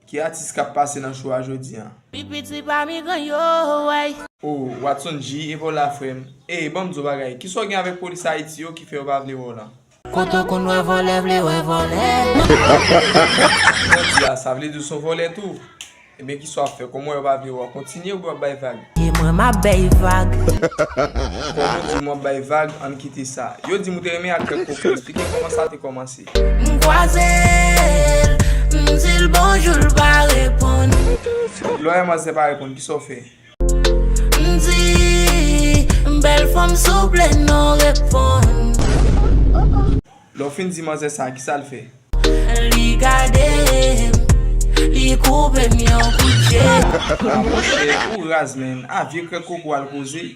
Ki atis kap pase nan show a jodi an? Pi piti pami gran yo wey. Oh watson G epa w la frem. Ey banm diw bagay, kisa w gen avèk polis ayiti yo ki fè yo pa vle wè w lan? Kote w konn wè vòlè vle wè vòlè. Jodi a sa vle di w son vòlè tou? Ebyen kisa wap fè kòm w wè yo pa vle wè w kontinye oubyen wap bay vag? E mwen map bay vag. Kòm ou di w map bay vag ann kite sa. Yo dim ou te renmen ak kèk koken, esplike kòman sa te kòmanse. M kwaze l, m di l bonjou l pa reponn. Lè w manzè pa reponn kisa w fè? M di bèl fanm souple non reponn. Lè w fin di manzè sa kisa l fè? Li gade m, li koupe m yon kout je. Ah monchè ou raz menn, a vye krèk koko al koze.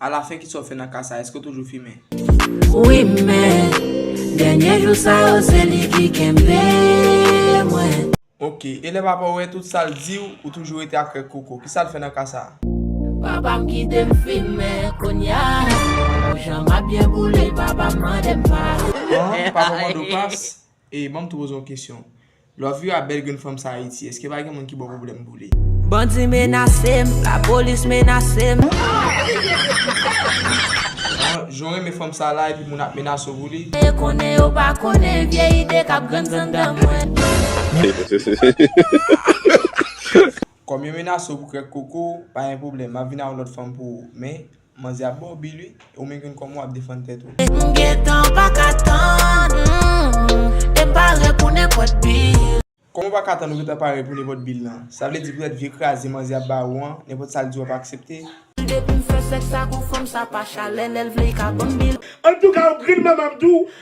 A la fen kisa w fè nan ka sa eske w toujou fimen. Wi men dènye jou sa yo se li ki kenbe mwen. Ok e lè papa w wè tout sa l di w ou toujou rete ak règ koko kisa l fè nan ka sa. Papa m kite m fimen kounya pou jan m ap byen boule papa m mande m pa. An papa w mande w pas Ey banm t poze yon kesyon. Love you a bel grenn fanm sa ayiti eske pa gen moun ki baw problème pou li. Bandi menasem, la police menasem. An jan w renmen fanm sa la epi moun ap menase w pou li. Yo konnen yo pa konnen vye ide kap grann anndan mwen. Kòm yo menase w pou krèk koko w, pa gen pwoblèm, map vin ak yon lòt fanm pou ou. Men, Manzè ap baw bil wi, e ou menm ki konn kòman wap defann tèt ou. M gentan pa ka tann. E m pare pou nenpòt bil. Kòman w pa ka tann ou gentan pare pou nenpòt bil lan? Sa vle di poutèt vye kraze manzè ap ba ou an, nenpòt sa l di w ap aksepte? Depi m fè sèks ak on fanm sa pa chalè lè l vle li ka banm bil. Antouka ou grin manman m tou